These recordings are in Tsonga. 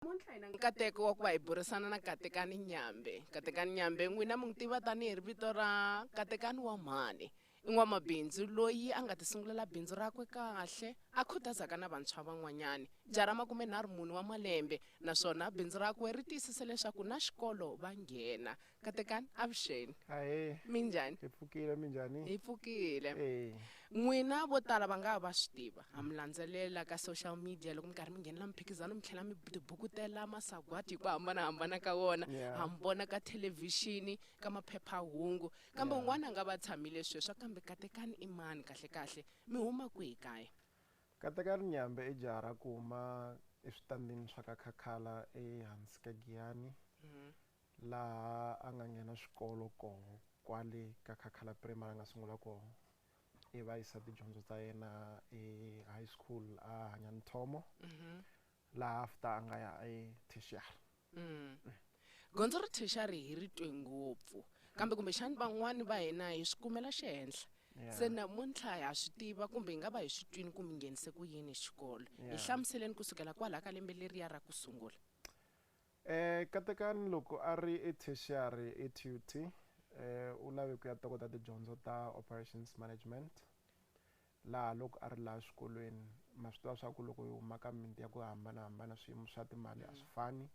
Namuntlha hi na nkateko wa ku va hi burisana na Katekani Nyambe. Katekani Nyambe n'wina mi n'wi tiva tanihi ri vito ra Katekani wa mhani. I n'wamabindzu loyi a nga tisungulela bindzu rakwe kahle a khutazaka na vantshwa van'wanyani. Jaha ra makumenharhu mune wa malembe naswona bindzu rakwe ri tiyisise leswaku na xikolo va nghena. katekani avuxeni ahee minjhani hi pfukile minjhani hi pfukile Eh, n'wina vo tala va nga ha va swi tiva ha mi landzelela ka social media loko mi karhi mi nghenela miphikizano mi tlhela mi tibukutela masagwadi hi ku hambanahambana ka wona Yeah. ha mi vona ka thelevhixini ka maphephahungu kambe un'wana a nga va tshamile sweswo kambe katekani i mani kahlekahle mi huma kwihi kaya katekani nyambe i jaha ra ku huma eswitandini swa ka khakhala ehansi ka giyani laha a nga nghena swikolo koho kwale ka Khakhala Primary a nga sungula koho ivi a yisa tidyondzo ta yena e high school a hanya ni Thomo laha after a nga ya e tertiary Gondzo ra tertiary hi ri twe ngopfu kambe kumbexani van'wani va hina hi swi kumela xihenhla Yeah. se namuntlha ha swi tiva kumbe hi nga va hi swi twini ku mi nghenise ku yini xikolo hi Yeah. hlamuseleni kusukela kwalaha ka lembe leriya ra ku sungula Katekani loko a ri eTertiary eTUT, u lave ku ya tokota tidyondzo ta Operations Management, laha loko a ri laha xikolweni, ma swi tiva swa ku loko hi huma ka mimiti ya ku hambanahambana swiyimo swa timali a swi fani.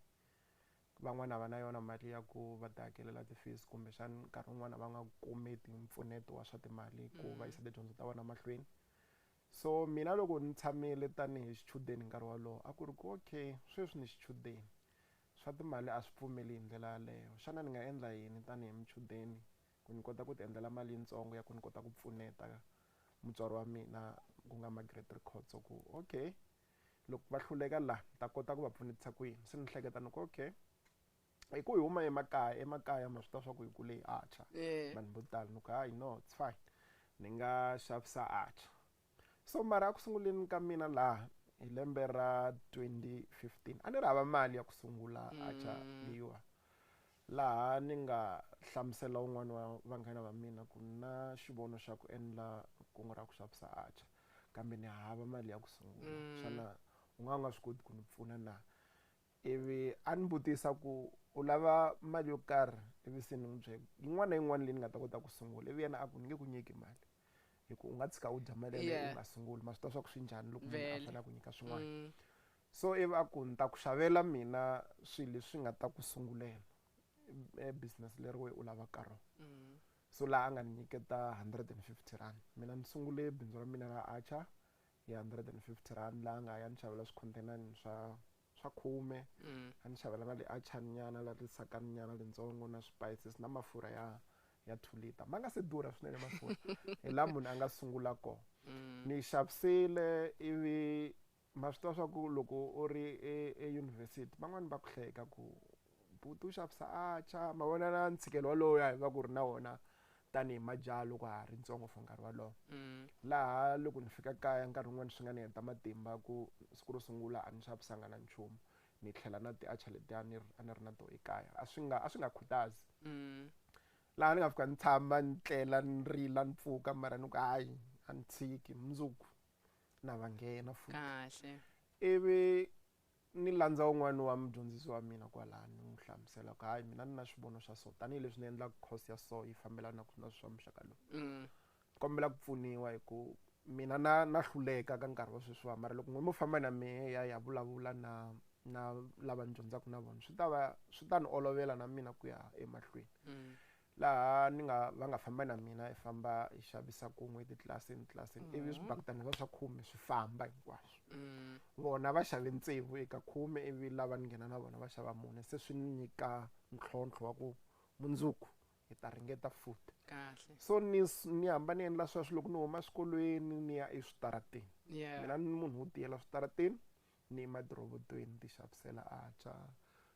Van'wana a va na yona mali ya ku va ti hakelela ti-fees kumbexana nkarhi wun'wana a va nga kumeti mpfuneto wa swa timali ku va yisa tidyondzo ta vona mahlweni. So mina loko ni tshamile tani hi xichudeni nkarhi wolowo a ku ri ku, okay sweswi ni xichudeni, swa timali a swi pfumeli hi ndlela yaleyo, xana ni nga endla yini tani hi muchudeni ku ni kota ku ti endlela mali yitsongo ya ku ni kota ku pfuneta mutswari wa mina ku nga Margaret Rikhotso ku, okay loko va hluleka la ni ta kota ku va pfunetisa ku yini? Se ni hleketa ni ku, okay hi ku hi huma emakaya emakaya ma swi ta swa ku hi kule hi archer Eh. vanhu vo tala ni ku hayi no it's fine ni nga xavisa archer so mara a ku sunguleni ka mina laha hi lembe ra 2015 a ni ri hava mali ya ku sungula archer leyiwa laha ni nga hlamusela un'wana wa vanghana va mina ku na xivono xa ku endla kungu ra ku xavisa archer kambe ni hava mali ya ku sungula xana u nga u nga swi koti ku ni pfuna na Ivi a ni vutisa ku, U lava mali yo karhi? Ivi se ni n'wi byela ku, Yin'wana na yin'wana leyi ni nga ta kota ku sungula. Ivi yena a ku, Ni nge ku nyiki mali hi ku u nga tshika u dya mali yeleyo u Yeah. nga sunguli. Ma swi tiva swa ku swi njhani loko munhu a Vele. fanele a ku nyika swin'wana. So ivi a ku, Ni ta ku xavela mina swilo leswi nga ta ku sungulela e business leri wehe u lavaka rona. So laha a nga ni nyiketa hundred and fifty rand. Mina ni sungule bindzu ra mina ra Archer hi hundred and fifty rand laha nga ya ni xavela swikhontenani swa swa khume a ni xavela na liachani nyana la lisakani nyana lintsongo na swipayises na mafurha ya ya two liter ma nga se durha swinene mafurha hi la munhu a nga sungula kona ni yi xavisile ivi ma swi tiva swa ku loko u ri eyunivhesiti van'wani va ku hleka ku Buti u xavisa atchar ma vona na ntshikelo wolowo ya hi va ku ri na wona tanihi majaha loko ha ri ntsongo for nkarhi wolowo laha loko ni fika kaya nkarhi wun'wani swi nga ni heta matimba ku siku ro sungula a ni xavisanga na nchumu ni tlhela na ti-atchar letiya a ni ri a ni ri na to ekaya a swi nga a swi nga khutazi laha ni nga fika ni tshama ni tlela ni rila ni pfuka mara ni ku hayi a ni tshiki mundzuku na va nghena futhi kahle ivi Ni landza un'wana wa mudyondzisi wa mina kwalaha ni n'wi hlamusela ku hayi mina ni na xivono xa so tanihileswi ni endlaka course ya so yi fambelana na swa muxaka lowu ni kombela ku pfuniwa hi ku mina na na hluleka ka nkarhi wa sweswiwa mara loko n'wina mo famba na mehe hi ya hi ya vulavula na na lava ni dyondzaka na vona swi ta va swi ta ni olovela na mina ku ya emahlweni laha ni nga va nga famba na mina hi famba hi xavisa kun'we titlilasini tlilasini mm. ivi swibakitana swa swa khume swi famba hinkwaswo mm. vona va xave ntsevu eka khume ivi lava ni nghena na vona va xava mune se swi ni nyika ntlhontlho wa ku mundzuku hi ta ringeta futhi kahle so ni ni hamba ni endla sweswo loko ni huma swikolweni ni ya eswitarateni mina ni munhu wo tiyela switarateni Ni madorobotweni ti xavisela acha.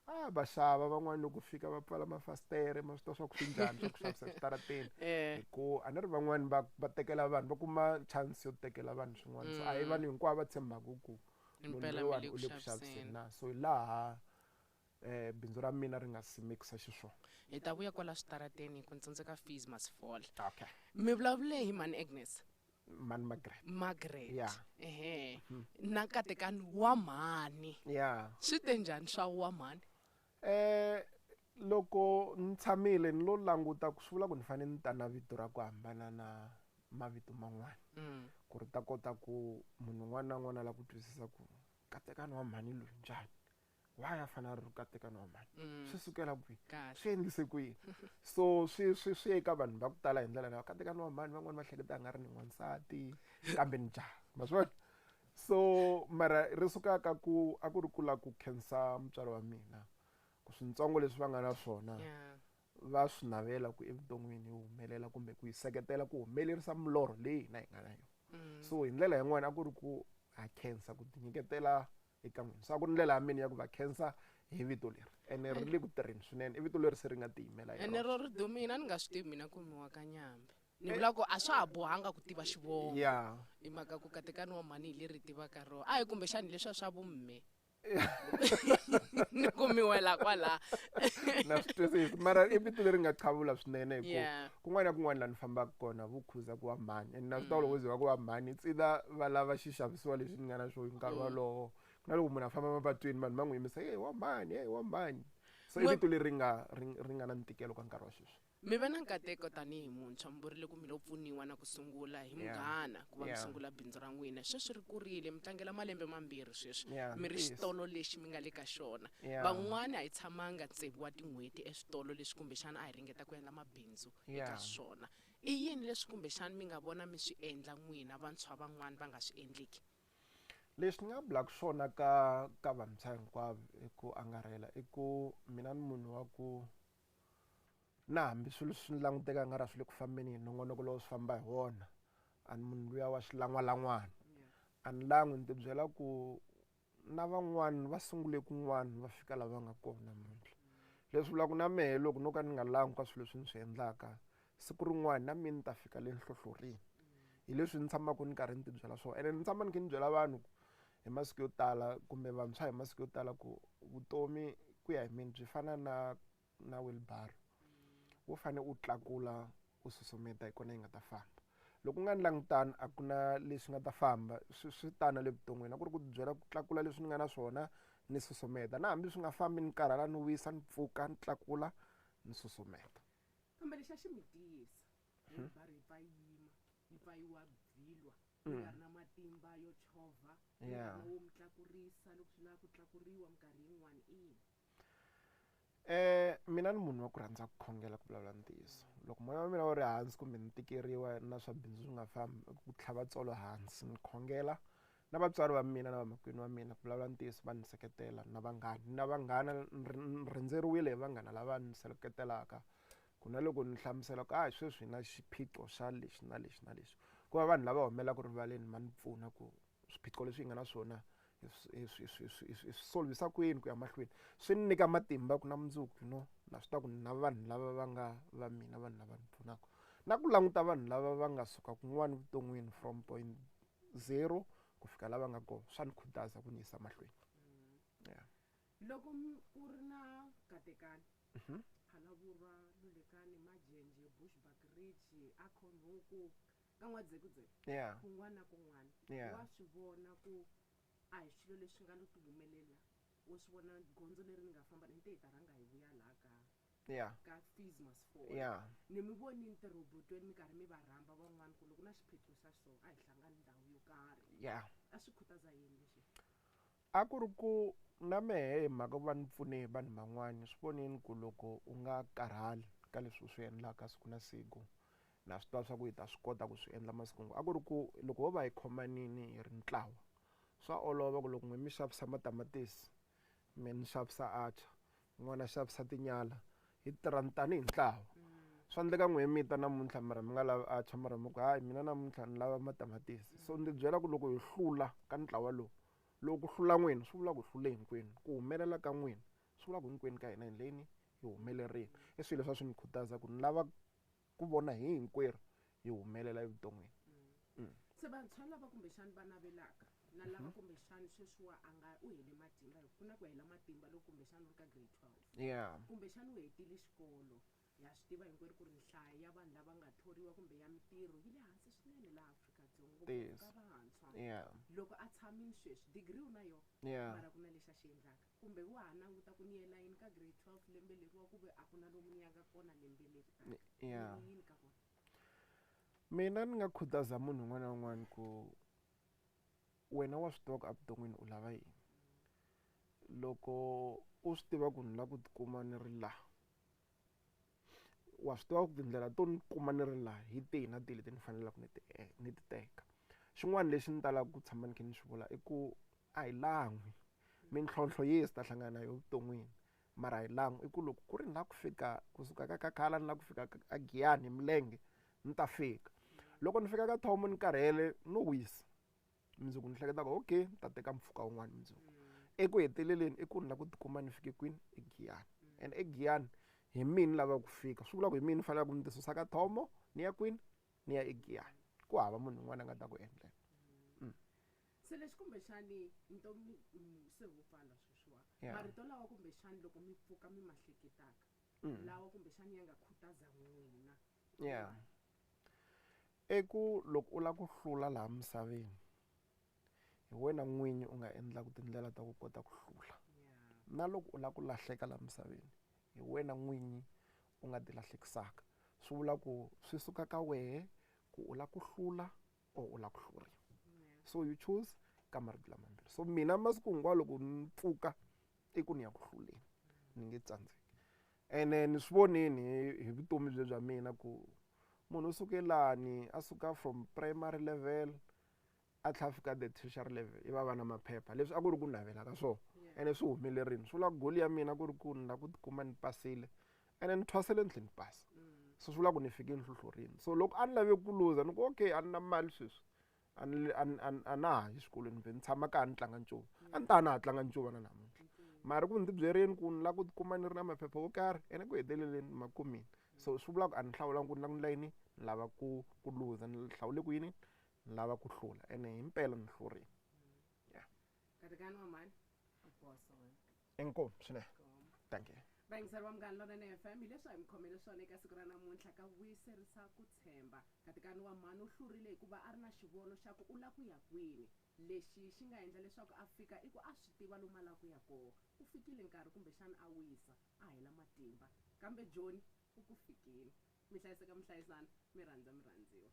A va xava van'wana loko fika va pfala mafasitere ma swi ta swa ku swi njhani swa ku xavisa switarateni eh. hi ku a ni ri van'wana va va tekela vanhu va kuma chance yo tekela vanhu swin'wana so a hi mm. vanhu hinkwavo va tshembaka ku munhu loyiwani u le ku xaviseni na so hi laha bindzu ra mina ri nga simekisa xiswona. Hi ta vuya kwala switarateni ku ntsundzuka fees must fall. Okay. Mi vulavule hi mhani Agnes? Mhani Margaret. Margaret. Yeah. Ehe. Na katekani wa mhani. Yeah. Swi te njhani swa wa mhani? Eh, loko ni tshamile ni lo languta ku swi vula ku ni fanele ni ta na vito ra ku hambana na mavito man'wana ku ri ta kota ku munhu un'wana na un'wana a lava ku twisisa ku katekani wa mhani loyi njhani. why a fanele a ri rukatekani wa mhani mm. swi sukela kwihi swi endlise kwihi so swi swi swi eka vanhu va ku tala hi ndlela leyo katekani wa mhani van'wani va hleketa a nga ri ni n'wansati kambe ni jaha ma swi vona so mara ri suka ka ku a ku ri kula ku khensa mutswari wa mina ku swintsongo leswi va nga na swona va swi navela ku evuton'wini yi humelela kumbe ku yi seketela ku humelerisa milorho leyi hina hi nga na yona mm. so hi ndlela yin'wana a ku ri ku ha khensa ku tinyiketela eka n'wina swa ku ndlela ya mina ya ku va khensa hi vito leri ene ri le ku tirheni swinene i vito leri se ri nga tiyimela ene ro ri dumina ni nga swi tivi mina kumiwa ka nyambe ni vula ku a swa ha bohanga ku tiva xivongo ya hi mhaka ku katekani wa mhani hi leri tivaka rona a hi kumbexani leswi a swa vumme ni kumiwela kwala na swi twisisi mara i vito leri nga chavula swinene hi ku Yeah. kun'wana na kun'wana laha ni fambaka kona vu khuza ku va mhani and na swi tiva mm. loko ze va ku va mhani it's either va lava xixavisiwa lexi ni nga na xona hi nkarhi mm. walowo ku na loko munhu a famba mapatwini vanhu va n'wi yimisa ye wa mhani ye wa mhani so i vito leri nga ri nga na ntikelo ka nkarhi wa sweswi mi ve na nkateko tanihi muntshwa mi vurile ku mi lo pfuniwa na ku sungula hi munghana ku va mi sungula bindzu ra n'wina sweswi ri kurile mi tlangela malembe mambirhi sweswi mi ri xitolo lexi mi nga le ka xona van'wana a hi tshamanga tsevu wa tin'hweti eswitolo leswi kumbexana a hi engeta ku endla mabindzu eka Yeah. swona i yini leswi kumbexani mi nga vona mi swi endla n'wina vantshwa van'wani va nga swi endliki lexi ni nga bulaka swona ka ka vantshwa hinkwavo i ku angarhela i ku mina ni munhu wa ku na hambi swilo swi ni languteka nga ra swi le ku fambeni yini nongonoko lowu swi famba hi wona a ni munhu luya wa xilan'walan'wana a ni langwi ni tibyela ku na van'wana va sungule kun'wana va fika lava nga kona namuntlha leswi vulaka na mehe loko no ka ni nga langi ka swilo leswi ni swi endlaka siku rin'wana na mina ni ta fika le nhlohlorini hi leswi ni tshamaka ni karhi ni tibyela swona ene ni tshama ni kha ni byela vanhu ku hi masiku yo tala kumbe vantshwa hi masiku yo tala ku vutomi ku ya hi mina byi fana na na wheelbarrow wo fane u tlakula u susumeta hi kona yi nga ta famba loko u nga ni langutani a ku na leswi nga ta famba swi swi tana le vuton'wini a ku ri ku byela ku tlakula leswi ni nga na swona ni susumeta na hambi swi nga fambi ni karhala ni wisa ni pfuka ni tlakula ni susumeta kambe lexi a xi mi tiyisa wheelbarrow yi pfa yi yima yi pfa yi wa vhilwa yi nga ri na matimba yo chovha yi nga ri na wo mi tlakurisa loko swi lava ku tlakuriwa minkarhi yin'wani ina mina ni munhu wa ku rhandza ku khongela ku vulavula ntiyiso loko moya wa mina wu ri hansi kumbe ni tikeriwa na swa bindzu swi nga fambi ku tlhava tsolo hansi ni khongela na vatswari va mina na vamakwenu wa mina ku vulavula ntiyiso va ni seketela na vanghana na vanghana ni rhendzeriwile hi vanghana lava ni seketelaka ku na loko ni hlamusela ku a sweswi hi na xiphiqo xa lexi na lexi na lexi ku va vanhu lava humelelaku rivaleni va ni pfuna ku swiphiqo leswi hi nga na swona hi swi swi swi swi swi solvhisa kwini ku ya mahlweni swi ni nyika matimba ku na mundzuku no na swi ta ku na vanhu lava va nga va mina vanhu lava ni pfunaka na ku languta vanhu lava va nga suka kun'wana vuton'wini from point zero ku fika lava nga kona swa ni khutaza ku ni yisa mahlweni yeah. loko ku ri na katekani mhm. phalavurwa lulekani majenje bushback ridge akhonhuku ka n'wadzekudzeke Yeah. kun'wana na kun'wana Yeah. wa swi vona ku a hi swilo leswi nga lo ti humelela wo swi vona gondzo leri ni nga famba ni te hi ta rhanga hi vuya laha ka Yeah. ka fees must fall Yeah. ni mi vonini tirhobotweni mi karhi mi va rhamba van'wana ku loko na xiphiqo xa so a hi hlangani ndhawu yo karhi Yeah. a swi khutaza yini lexi A ku ri ku, Na mehe hi mhaka ku va ni pfune vanhu van'wana. Swi voneni ku loko u nga karhali ka leswi u swi endlaka siku na siku, na swi tiva leswaku hi ta swi kota ku swi endla masiku hinkwawo. A ku ri ku, Loko ho va hi khomanile hi ri ntlawa, swa olova ku loko n'wina mi xavisa matamatisi, mina ni xavisa atchar, un'wana a xavisa tinyala, hi tirha tanihi ntlawa. Swa endleka n'wina mi ta namuntlha mara mi nga lavi atchar mara mi ku, hayi mina namuntlha ni lava matamatisi. So ndzi byela ku loko hi hlula ka ntlawa lowu, Loko ku hlula n'wina swi vula ku hlule hinkwenu. Ku humelela ka n'wina swi vula ku hinkwenu ka hina hi ndleni hi humelerile. I swilo leswi a swi ni khutaza ku ni lava ku vona hi hinkwerhu hi humelela evuton'wini. Se vantshwa lava kumbexani va navelaka na lava kumbexani sweswiwa a nga u hele matimba hi ku ku na ku hela matimba loko kumbexani u ri ka grade 12 kumbexani u hetile xikolo Ha swi tiva hinkwerhu ku ri nhlayo ya vanhu lava nga thoriwa kumbe ya mitirho yi le hansi swinene laha Afrika-Dzonga ngopfu ka vantshwa. Loko a tshamile sweswi, digiri u na yona, mara ku na lexi a xi endlaka. Kumbe wa ha languta ku ni ya layini ka grade 12 lembe leri wa ku ve a ku na lomu ni yaka kona lembe leri taka. Mi ri yini ka vona? Mina ni nga khutaza munhu un'wana na un'wana ku wena wa swi tiva ku evuton'wini u lava yini. Loko u swi tiva ku ni lava ku ti kuma ni ri laha. wa swi tiva ku tindlela to ni kuma ni ri laha hi tihi na tihi leti ni faneleke ni ti ni ti teka. Xin'wana lexi ni talaka ku tshama ni kha ni swi vula i ku a hi lan'wi. Mintlhontlho yi ta hlangana na yona evuton'wini, mara a hi lan'wi. I ku loko ku ri ni lava ku fika kusuka ka Khala ni lava ku fika a Giyani hi milenge, ni ta fika. Loko ni fika ka Thohoyandou ni karhele, no wisa. mundzuku ni hleketa ku okay ni ta teka mpfhuka wun'wana mundzuku eku heteleleni i ku ni la ku tikuma ni fike kwini egiyani and egiyani hi mina lava ku fika swi vula ku hi mina ni faneleke ku ni ti susa ka thomo ni ya kwini ni ya egiyani ku hava munhu un'wana a nga ta ku endlela mm. se lexi kumbexani ntomi mm, se wu pfala sweswiwa yeah. marito lawa kumbexani loko mi pfuka mi mahleketaka mm. lawa kumbexani ya nga khutaza n'wina yeah. I ku loko u lava ku hlula laha misaveni, hi wena n'winyi u nga endlaka tindlela ta ku kota ku hlula. Na loko u lava ku lahleka laha misaveni, hi wena n'winyi u nga ti lahlekisaka. Swi vula ku swi suka ka wena ku u lava ku hlula or u lava ku hluriwa. So you choose ka marito lama mambirhi. So mina masiku hinkwawo loko ni pfuka i ku ni ya ku hluleni, ni nge tsandzeki. Ene ni swi vonini hi vutomi bye bya mina ku munhu u suke lani a suka from primary level a tlha a fika the tertiary level i va va na maphepha leswi a ku ri ku navela ka swona ene swi humele rini swi vula goal ya mina ku ri ku ni la ku tikuma ni pasile ene ni thwasele ni tlhe ni pasa so swi vula ku ni fike nhlohlorini so loko a ni lave ku luza ni ku okay a ni na mali sweswi a ni le- a ni- a ni- a na ha yi swikolweni vhe ni tshama kaya ni tlanga ncuva a ni ta na ha tlanga ncuva na namuntlha mara ku ni tibyerini ku ni lava ku tikuma ni ri na maphepha yo karhi ene ku heteleleni ma kumile so swi vulaka ku a ni hlawulanga ku ni lava ku endla yini ni lava ku ku luza ni hlawule ku yini ni lava ku hlula ene himpela ni hlurile katekani wa mhani u boso wena inkomu swinene thank you vayingiseri va munghana lonene fm hi leswi a hi mi khomele swona eka siku ra namuntlha ka vuyiserisa ku tshemba katikani wa mhani u hlurile hikuva a ri na xivono xa ku u la ku ya kwini lexi xi nga endla leswaku a fika i ku a swi tiva lomu a la ku ya koho u fikile nkarhi kumbexana a wisa a hela matimba kambe joni u ku fikile mi hlayiseka muhlayisana mi rhandza mi rhandziwa